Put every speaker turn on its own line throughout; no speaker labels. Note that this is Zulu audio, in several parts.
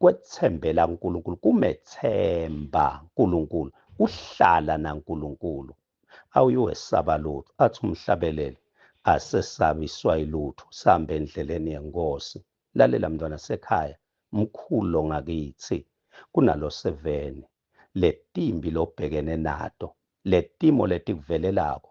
kwethembela uNkulunkulu kumethemba uNkulunkulu uhlala naNkulunkulu awuyowesaba lutho athi umhlabeleli asesabiswa ilutho sihambe endleleni yenkosi lalela mntwana sekhaya mkhulu lo ngakithi kunalo seveni letimbi lobhekene nato letimo letikuvelelako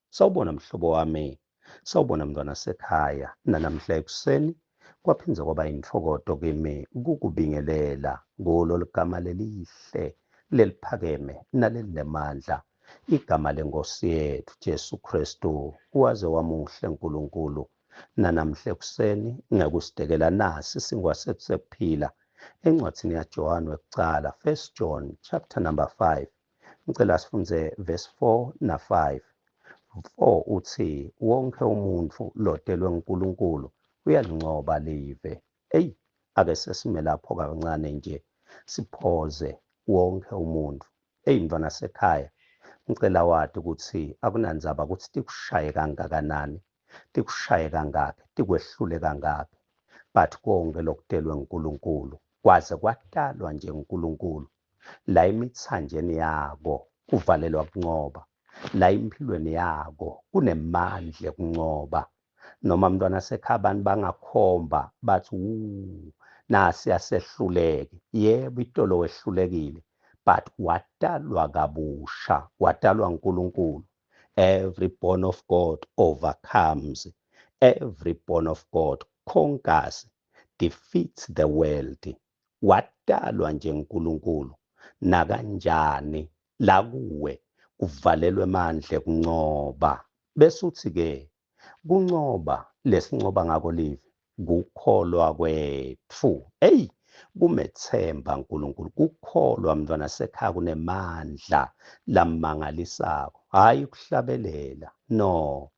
Sawubona mhlobo wami. Sawubona mntwana sekhaya. Nanamhla ekuseni kwaphinde kwaba intokodo kimi kukubingelela kulo ligama lelihle leliphakeme nalelinemandla igama lenkosi yethu Jesu Kristu waze wamuhle uNkulunkulu nanamhla ekuseni ngekusidekela nasi singwasekusekuphila encwadini yaJohane wekucala 1 John chapter number 5 Ngicela sifunze verse 4 na 5. 4 uthi wonke umuntu lodelwe uNkulunkulu uyalincoba live. Ey ake sesime lapho kancane nje siphoze wonke umuntu. Ey mntwana sekhaya ngicela wadi ukuthi akunanzaba ukuthi tikushaye kangakanani, tikushaye kangaki, tikwehlule kangaki. But konke lokudelwe uNkulunkulu kwaze kwadalwa nje uNkulunkulu la emithanjeni yako kuvalelwa kuncoba la impilweni yako kunemandla ekuncoba noma mntwana sekhaya abantu bangakhomba bathi wu nasi asehluleke yebo itolo wehlulekile but wadalwa kabusha wadalwa uNkulunkulu every born of God overcomes every born of God conquers defeats the world wadalwa nje uNkulunkulu nakanjani la kuwe kuvalelwe emandle kuncoba bese uthi ke kuncoba lesincoba ngako live kukholwa kwethu hey kumethemba uNkulunkulu kukholwa mntwana sekhaya kunemandla lamangalisako hayi ukuhlabelela no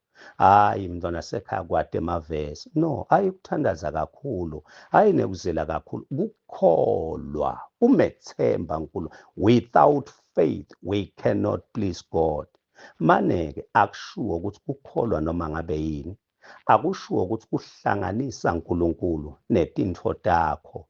hayi mntwana sekhaya kwade mavesi no ayi kuthandaza kakhulu hayi nekuzela kakhulu kukholwa umethemba nkulu without faith we cannot please god maneke akushuwo ukuthi kukholwa noma ngabe yini akushuwo ukuthi kuhlanganisa uNkulunkulu netintfo takho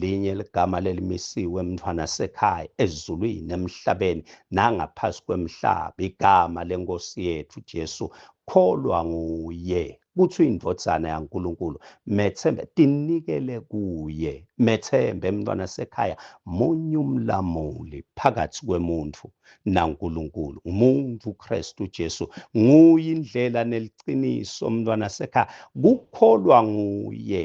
linye ligama lelimisiwe emntwana sekhaya ezulwini emhlabeni nangaphasi kwemhlaba igama lenkosi yethu Jesu kholwa nguye kuthi indvodzana yaNkulunkulu methembe tinikele kuye methembe emntwana sekhaya munye umlamuli phakathi kwemuntu naNkulunkulu umuntu uKristu Jesu nguye indlela neliqiniso umntwana sekhaya kukholwa nguye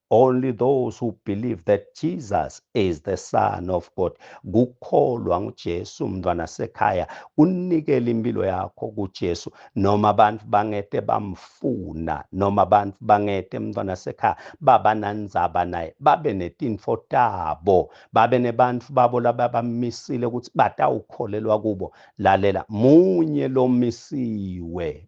Only those who believe that Jesus is the Son of God, kukholwa nguJesu mntwana sekhaya, unikela impilo yakho kuJesu, noma abantu bangete bamfuna, noma abantu bangete mntwana sekhaya babanandzaba naye, babe netinfo tabo, babe nebantu babo lababamisile ukuthi batawukholelwa kubo. Lalela, munye lomisiwe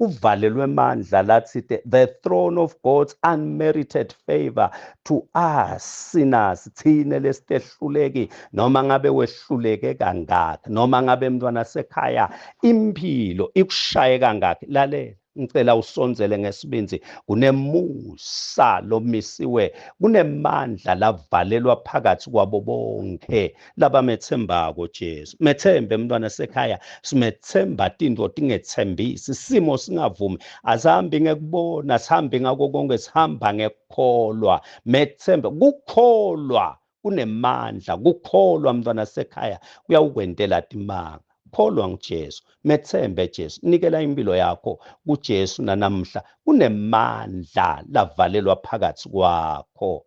uvalelwe emandla lathi the, the throne of god's unmerited favor to us sinners thina lesitehluleki noma ngabe wehluleke kangaki noma ngabe mntwana sekhaya impilo ikushaye kangaki lalela ngicela usondzele ngesibindzi kunemusa lomisiwe kunemandla lavalelwa phakathi kwabo bonke labametsembako Jesu methembe mntwana sekhaya simethemba tintfo tingetsembisi simo singavumi asihambi ngekubona sihambi ngako konke sihamba ngekukholwa methembe kukholwa kunemandla kukholwa mntwana sekhaya kuyawukwentela timanga kholwa nguJesu methembe Jesu nikela impilo yakho kuJesu nanamhla kunemandla lavalelwa phakathi kwakho